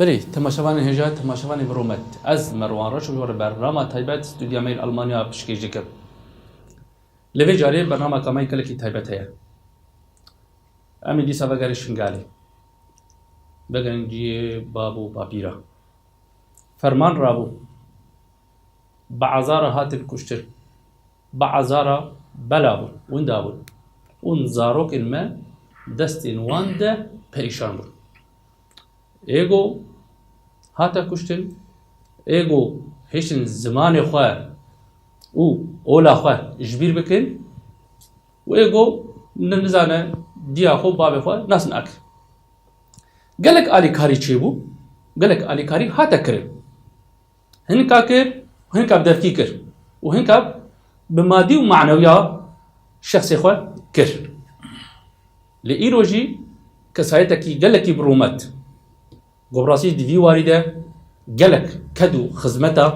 Berê temaşevanên hêja temaşevanê bi rûmet. Ez Merwan Reş û ji ber rama taybet stûdya me yên Almanya pişkêş dikim. Li vê carê bernameka me gelekî taybet heye. Em ê dîsa vegerîn Şingalê. Vegerîn ciyê bab û bapî re. Ferman rabû. bi azara hatin kuştin, bi azara bela bûn, winda bûn û zarokên me destên wan de perîşan bûn. Êgo hate kuştin, êgo hêştin zimanê xwe û ola xwe ji bîr bikin û êgo nizane diya xwe bavê xwe nas nakir. Gelek alîkarî çêbû, gelek alîkarî hate kirin. hinka kir û hinka bi devkî kir û hinka bi madî û manewiya şexsê xwe kir. Lê îro jî kesayetekî gelekî bi rûmet. Gobrasî di vî warî de gelek ked û xizmeta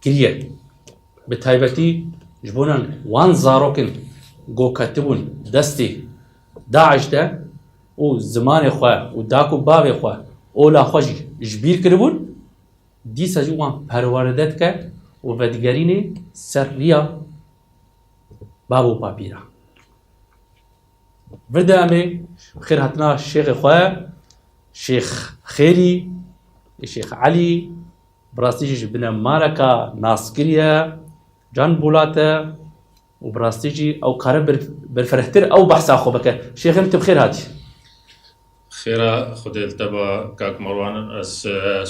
kiriye. Bi taybetî ji bonan wan zarokên ku ketibûn destê DAIŞ de û zimanê xwe û daq û bavê xwe, ola xwe jî ji bîr kiribûn, dîsa jî wan perweride dike û vedigerînê ser riya Bab û Papîran. Vir de em ê bi xêr hatina şêxê xwe, Şêx Xêrî, Şêx Elî, bi rastî jî ji binê Mareka Naskirî ye, Can Bûlat e, Û bi rastî jî ew kare berfirehtir ew behsa xwe bike. Şêxim tu bi xêr hatî. Xêra Xwedê li te be kak Merwan. Ez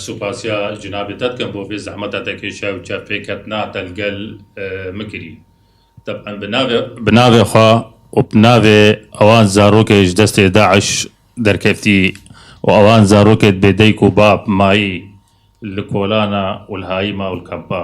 supasiya cinabê te dikim bo vê zehmeta te kêşiya û çavpêketina te li gel min kirî. Teb'en bi navê bi navê xwe û bi navê ewan zarokê ji destê DAIŞ derkeftî û ewan zarokê dibê dayik û bab, mayî li kolana û li hayîma û li kampa.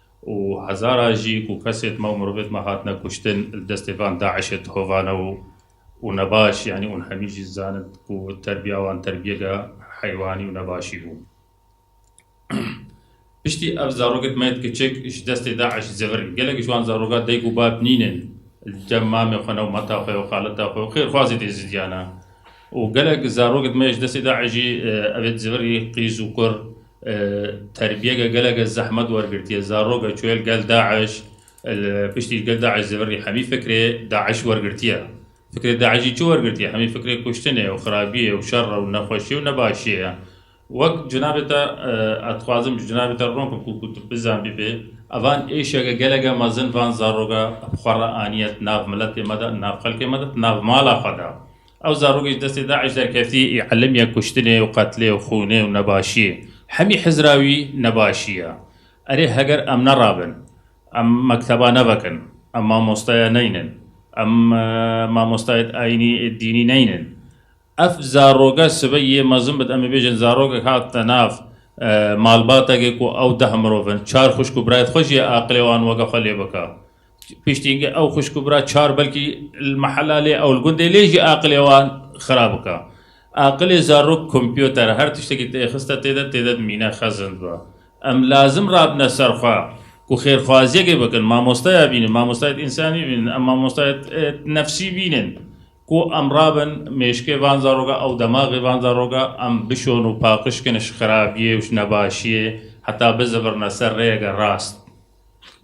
û hezara jî ku kesê dima û mirovê dima hatine kuştin li destê van DAIŞ'ê dihovane û û nebaş yanî ûn hemî jî dizanin ku terbiya wan terbiyeke heywanî û nebaşî bû. Piştî ev zarokê dima yê kiçik ji destê DAIŞ zêvir in. Gelek ji wan zaroka dayik û bab nînin li cem mamê xwe ne û meta xwe û xaleta xwe û xêrxwazê dê zidiyane. Û gelek zarok dime ji destê DAIŞ'î evê zêverî qîz û kur terbiyeke geleke zehmet wergirtiye. Zaroke çûye li gel DAIŞ, li piştî li gel DAIŞ zêverî hemî fikrê DAIŞ wergirtiye. Fikrê DAIŞ jî çi wergirtiye? Hemî fikrê kuştinê û xirabiyê û şer re û nexweşiyê û nebaşiyê ye. Wek cinabê te ez dixwazim ji cinabê te ron bikim ku tu bizan bibê evan êşeke geleke mezin van zaroka xwe re aniye di nav miletê me de, di nav xelkê me de, di nav mala xwe de. Ew zarokê ji destê DAIŞ derketî ê elm ye kuştinê û qetlê û xûnê û nebaşiyê. Hemî Hizra wî nebaşî ye. Erê heger em nerabin, em mekteba nevekin, em mamosteya neynin, em mamostayê ayînî ê dînî neynin. Ev zaroke sibe yê mezin bid em ê bêjin zarokek hatine nav malbatekê ku ew deh mirov in, çar xwişk û birayê xwe jî ye aqilê wan weke xwe lê bike. Piştî ge ew xwişk û bira çar belkî li mehela lê ew li gundê lê jî aqilê wan xirab bike. Aqilê zarok kompyoter e, her tiştekî tê xiste tê de tê de dimîne xezind be. Em lazim rabine ser xwe ku xêrxwaziyekê bikin, mamosteya bînin, mamostayet însanî bînin, em mamostayet nefsî bînin ku em rabin mêşkê van zarok e, ew demaxê van zarok e em bişon û paqij kin ji xirabiyê û ji nebaşiyê heta bizifirine ser rêyeke rast.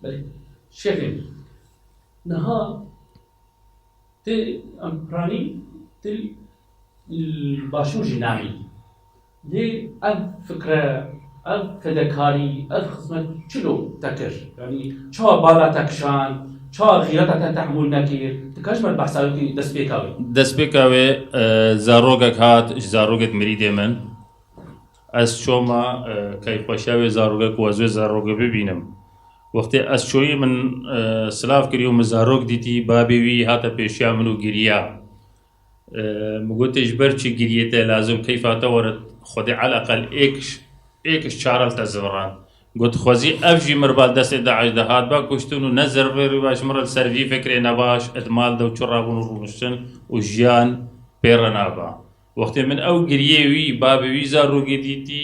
Belê. Şevên niha tê em piranî tê li başûr jî nayê. Lê ev fikre, ev fedekarî, ev xizmet çilo te kir? Yanî çawa bala te kişand, çawa xîreta te tehmûl nekir? Ti ka ji ber behsa wekî destpêka wê? Destpêka wê zarokek hat ji zarokek mirîdê min. Ez çoma keyfxweşiya wê zaroke ku ez wê zaroke bibînim. Wextê ez çoyî min silav kirî û min zarok dîtî, babê wî hate pêşiya min û giriya. Min gotê ji ber çi giriyê te lazim keyfa te were xwedê eleqel êk ji çaran te zivirand. Got xwezî ev jî mir ba destê DAIŞ de hatba kuştin û ne zerverî ba ji min re li ser vî fikrê nebaş, id mal dew çi rabûn û rûniştin û jiyan pê re naba. Wextê min ew giriyê wî, bavê wî zarokê dîtî,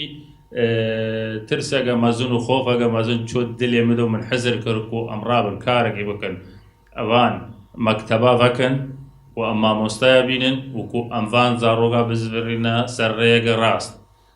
tirseke mezin û xofeke mezin çût dilê min û min hizir kir ku em rabin karekê bikin. Van mekteba vekin û em mamostaya bînin û ku em van zaroka bizivîrîne ser rêyeke rast.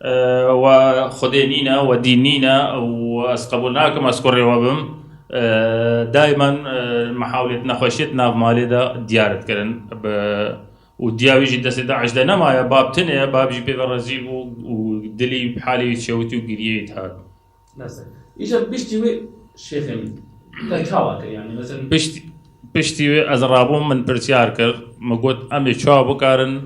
We Xwedê nîne, we dîn nîne û ez qebûl nakim ez kurê we bim. Dayman mihawlêt nexweşiyê di nav malê de diyar dikirin. Bi û diya wî jî destê DAIŞ de nemaye. Bab tune ye, bab jî pê ve rezîl bû û dilî halê wî çewitî û giriyê wî dihat. Mesela. İşte pişti ve şêxê min. Te çawa kir yani mesela. Pişti pişti ve ez rabûm min pirsiyar kir. Min got em ê çawa bikarin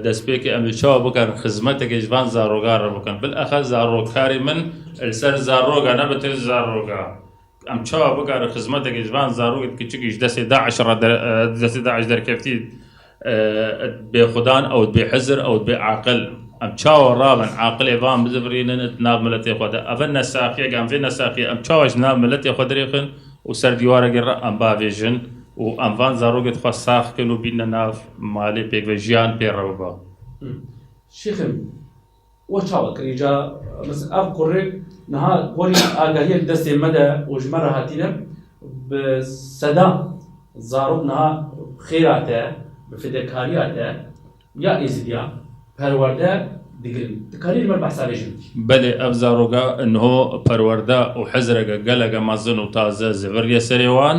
destpêkê em ê çawa bikarin xizmetekê ji van zarogan re bikin. Bilexez zarokarê min li ser zaroga ne bi têz zaroga. Em çawa bikarin xizmetekê ji van zarokên kiçikî ji destê DAIŞ re di destê DAIŞ derkeftî bêxwedan ew bê hizir ew bê aqil em çawa rabin aqilê van bizivirînin di nav miletê xwe de ev e nesaxiyek em vê nesaxiyê em çawa ji nav miletê xwe dirêxin û ser dîwarekê re em bavêjin û em van zarokê dixwe sax bikin û bînine nav malê pêkve jiyan pê re biba. Şêxim. We çawa kir? Îca mes ev kurrêk niha porî agahiyê li destê me de û ji me re hatîne. Bi sedan zarok niha bi xêra te, bi fidekariya te ya Êzidiya perwerde digirin. Ti karî li me behsa vê jin bikî? Belê ev zaroga niho perwerde û hizreke geleke mezin û taze ziviriye serê wan.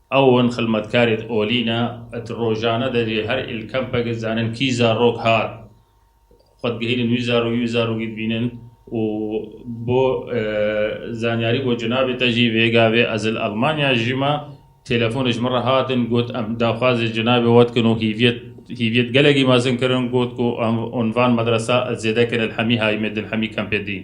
Ew in xilmetkarê di olî ne, di rojane de jî her îl kempekê dizanin kî zarok hat, xwe digihînin wî zarok wî zarokî dibînin û bo zanyarî bo cinabê te jî vê gavê ez li Elmanya dijîme têlefonê ji min re hatin got em daxwazê cinabê we dikin û hîviyet hîviyet gelekî mezin kirin got ku em van medresa ez zêdekên li Hemî Hayîmê din Hemî kempê din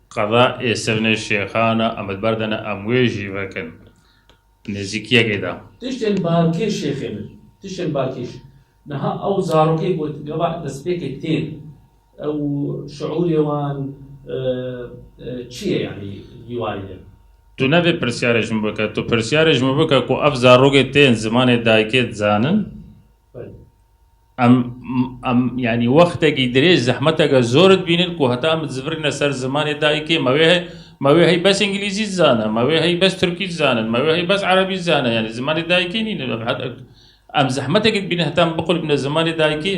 Qada ê Sivnê Şêxana Amed Berdene em wê jî vekin nêzîkiyekê de. Tiştên balkêş şêxê min. Tiştên balkêş. Niha ew zarokê got gava destpêkê tên. Ew şiûrê wan çi ye yanî li warê de? Tu ne vê pirsyarê ji min bike. Tu pirsyarê ji min bike ku ev zarokê tên zimanê dayikê dizanin? Em em yanî wextekî dirêj zehmeteke zor dibînin ku heta em dizivirîne ser zimanê dayikê me wê heye me wê hey bes îngilîzî dizane, me wê hey bes tirkî dizanin, me wê hey bes erebî dizane yanî zimanê dayikê nîn. Em zehmetekî dibînin heta em biqulîbîne zimanê dayikê.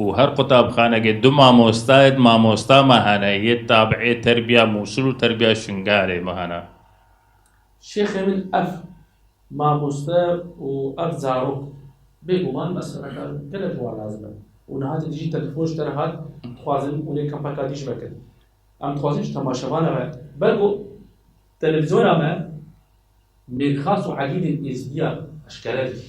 û her qutabxanekê du mamostayên mamosta me hene yê tabîê Terbiya Mûsil û Terbiya Şingalê me hene. Şêxê min ev mamoste û ev zarok bêguman meselekan gelek wan lazim e û niha te dijî telefon ji te re hat dixwazin hûn ê kampeka dî ji me kin. Em dixwazin ji temaşevana me ber ku televîzyona me Mêrxas û Elîdên Êzidiyan eşkere dike.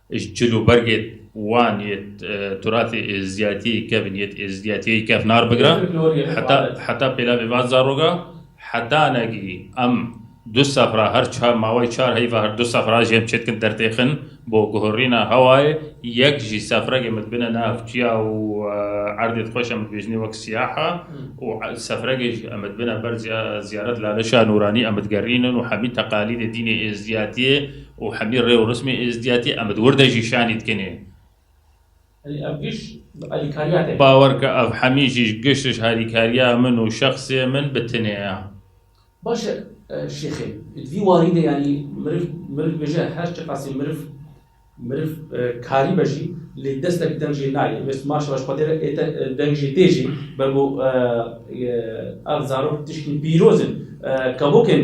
Ji cil û bergê wan yê turatê êzdiyatiyê kevn yê êzdiyatiyê kevnar bigre heta heta pêlavê van zaroga hetanekî em du sefra her çar mawayê çar heyva her du sefra jê em çêdikin dertêxin bo guhurîna hewayê yek jî sefregê min dibine nav çiya û erdê dixweş em dibêjinê wek siyaha û sefregê jî em dibine ber ziyaret laleşa nûranî em digerînin û hemî teqalîdê dînê êzdiyatiyê û hemî rê û rismê êzdiyatî em di wir de jî şanî dikinê. Elî ev giş bi alîkariya te. Bawer ke ev hemî jî giş ji alîkariya min û şexsê min bi tinê ye. Baş e şêxê. Di vî warî de yanî miriv miriv bêje her çiqasî miriv miriv karî be jî lê destek deng jê nayê. Wê sima şeva ji xwedê re ê te deng jê tê jî be ku ev zarok tiştên pîroz in kevokên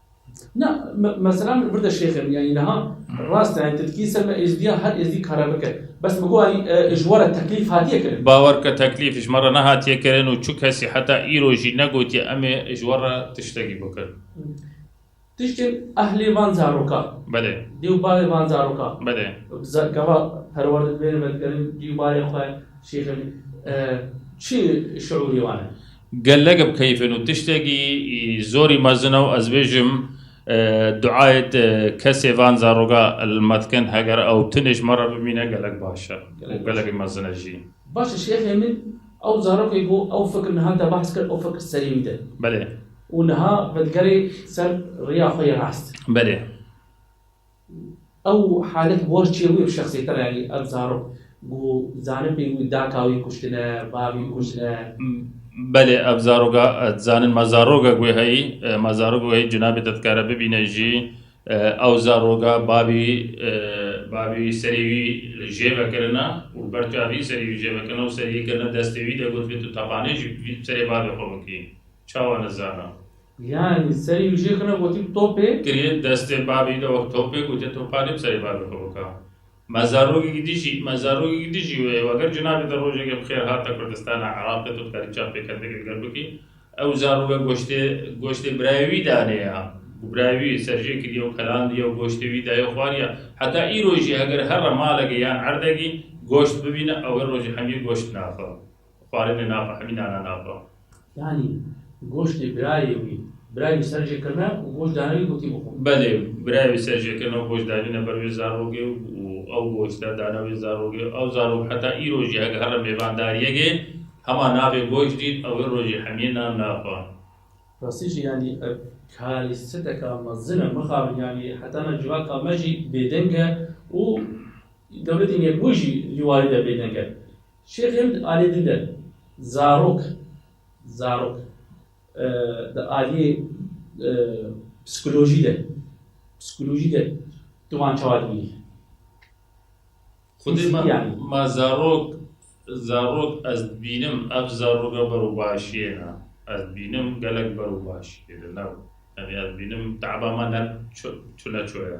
Na, mesela min vir de şêxê min yanî niha rast e, yanî tilkî ser me êzdiya her êzdî kare bike. Bes min got yanî ji we re teklîf hatiye kirin. Bawer bike teklîf ji me re nehatiye kirin û çu kesî heta îro jî negotiye em ê ji we re tiştekî bikin. Tiştên ehlê van zaroka. Belê. Dê û bavê van zaroka. Belê. Gava perwerde dibêrin vedigerin dê û bavê xwe şêxê min. Çi şiûrî wan e? Gelek bi keyfên û tiştekî zorî mezin e û ez bêjim duayê te kesê van zaroga li me dikin heger ew tunê ji me re bimîne gelek baş e û gelekî mezin e jî. Baş e şêxê min ew zarokê ku ew fikir niha te behs kir ew fikir serî wî de. Belê. Û niha vedigerê ser riya xwe yê rast. Belê. Ew halet bi wan çêwî û şexsîyeter e, yanî ev zarok ku dizanin pê wî daka wî kuştine, bavî kuştine. Belê ev zaroka dizanin ma zaroka ku heyî, ma zaroka ku heyî cinabê te dikare bibîne jî ew zaroka bavî bavî serê wî jê vekirina û li ber çavî serê wî jê vekirina û serê yê kirine destê wî de gotibe tu tepanê jî serê bavê xwe bikî. Çawa nizana. Yanî serî wijî xina gotî topê. Kirî destê babî de wek topê gotî topanî bi serê babî xwe bika. Me zarokekî dijî, me zarokekî dijî wê weger cinabê te rojeke bi xêr hate Kurdistana Iraqê tu dikarî çavpêkendeke li gel bikî. Ew zaroke goştê goştê birayê wî danê ya. Birayê wî serjê kirî ew kelandiye û goştê wî dayê xwariya. Heta îro jî eger herre malekê yan erdekî goşt bibîne ew her rojê hemiyê goşt naxe. Xwarinê nabe hemî nana nabe. Yanî goştê birayê wî birayê wî ser jê kirine û goşt dane wî gotî bixwe. Belê, birayê wî ser jê kirine û goşt danîne ber wê zarokê û ew goşt e dane wê zarokê. Ew zarok heta îro jî heke herre mêvandariyegê hema navê goşt dît û wê rojî hemiyê nan nabe. Rastî jî yanî ev karî siteka mezin e. Mixabin yanî heta na civaka me jî bêdeng e û dewletên yekbûyî jî li warî de bêdeng e. Şêxên di aliyê din de zarok, zarok di aliyê psîkolojî de, psîkolojî de tu wan çawa dibînî? Xwedî ma, ma zarok, zarok ez dibînim ev zaroka berûbaşiyê ne. Ez dibînim gelek berûbaşiyê de ne. Yanî ez dibînim teba me ne çune ço ye.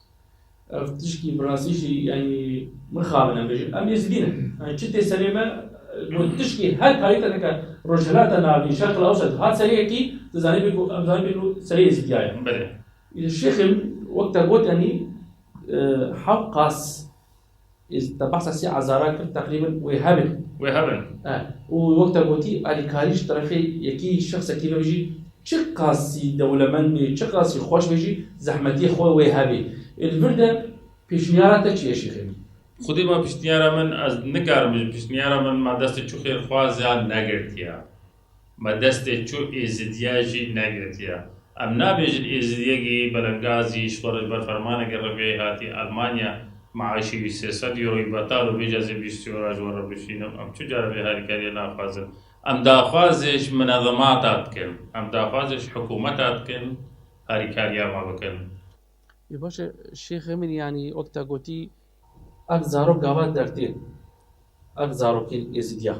Ev tişkî min rastî jî yanî mixabin em bêjin. Em Êzidî ne. Yanî çi tê serê me ku tişkî her tarîf te dike Rojhilata Navîn, Şerqil Ewset hat serê yekî tu zanî bî ku em zanî bî ku serê Êzîdiya ye. Belê. Şêxê min wek te got yanî Hewqas Ez te behsa sê ezaran kir teqrîben wê hebin. Wê hebin. Eh. Û wek te gotî alîkarî ji terefê yekî şexsekî vebe jî çi qasî dewlemend bê, çi qasî xweş bê jî zehmetiyê xwe wê hebê. Ê li vir de pêşniyara te çi ye Şêxê min? Xwedê ma piştniyara min ez nikarim bijim piştniyara min ma destê çû xêrxwaz ya negirtiya. Me destê çu Êzidiye jî negirtiye. Em nabêjin Êzidiyekî belengazî ji xwe re ji ber fermaneke riviyayî hatiye Elmanya, meaşê wî sê sed euroyî betal û bêje ez ê bîst euro ji we re bişînim. Em çi cara vê harîkariye naxwazin. Em daxwazê ji minezemata dikin. Em daxwazê ji hikûmeta dikin harîkariya me bikin. Ê baş e, Şêx Emin yanî wek te gotî. Ev zarok gava dertê ye. Ev zarokên Êzidiyan.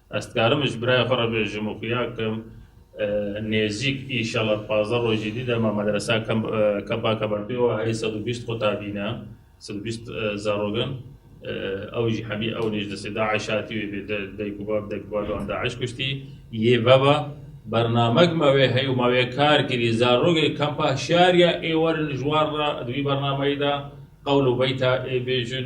Ez dikarim ji birayê xwe re bêjim û xuya kim nêzîk înşala di pazdeh rojî dî de me medreseya Kepa Kebertê û herî sed û bîst qota bîne, sed û bîst zarok in. Ew jî hemî ew nê ji destê DAIŞ hatî wê bê dayik û bav dayik û bavê wan DAIŞ kuştî. Yê veva bernamek me wê heye û me wê kar kirî. Zarokê Kempa Hişyariya ê werin ji wan re di wî bernameyê de qewl û beyta ê bêjin.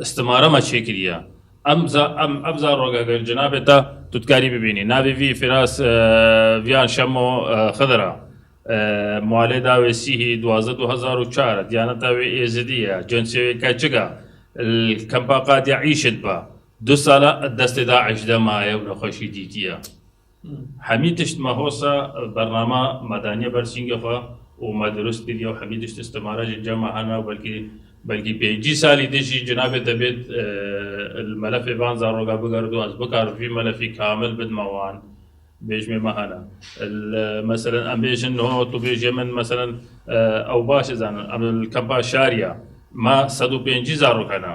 istimara me çêkiriye. Em za em em za rogagir cinabê te tu dikarî bibînî. Navê vî Firas Viyan Şemo Xidir a. Malê da wê sîhî duwazdeh du hezar û çar e. Diyaneta wê êzidî ye. Cinsê wê keçik e. Li kempa Qadiya Îşid be. Du sal e destê DAIŞ de maye û nexweşî dîtiye. Hemî tişt me hosa bernama me daniye ber sîngê xwe û me dirust kiriye û hemî tişt istimara jî cema hene û belkî belkî pêncî salî din jî cinabê te bêt li melefê van zaroga bigerit û ez bikarim vî melefî kamil bidime wan bêjmê me hene li meselen em bêjin niho tu bêjê min meselen ew baş dizanin em li kempa şariya me sed û pêncî zarok hene.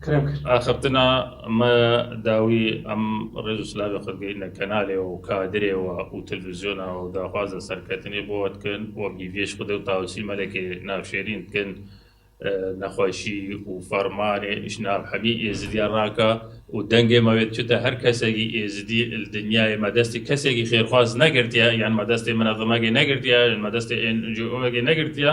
Krem kir. Axiftina me dawî em rêz û silavê xwe digihîne kenalê we û kadirê we û televîzyona we û daxwaza serketinê bi we dikin. Wek hîviyê ji Xwedê û Tawusî Melekê navşêrîn dikin nexweşî û fermanê ji nav hemî Êzidiyan rake û dengê me wê diçite her kesekî Êzidî li dinyayê me destê kesekî xêrxwaz negirtiye yan me destê min a Dimegê negirtiye yan me destê NGO'ekê negirtiye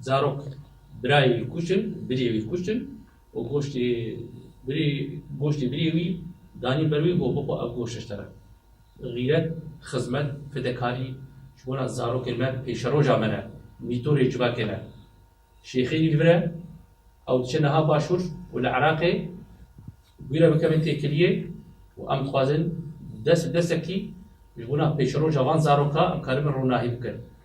Zarok birayê wî kuştin, birê wî kuştin û goştê birê goştê birê wî danîn ber wî got bixwe ev goşt ji te re. Xîret, xizmet, fidekarî ji bona zarokên me pêşeroja me ne, mîtorê civakê ne. Şêxê wî li vir e, ew diçe niha başûr û li Iraqê wî re bikevin têkiliyê û em dixwazin dest bi destekî ji bona pêşeroja van zaroka em karibin ronahî bikin.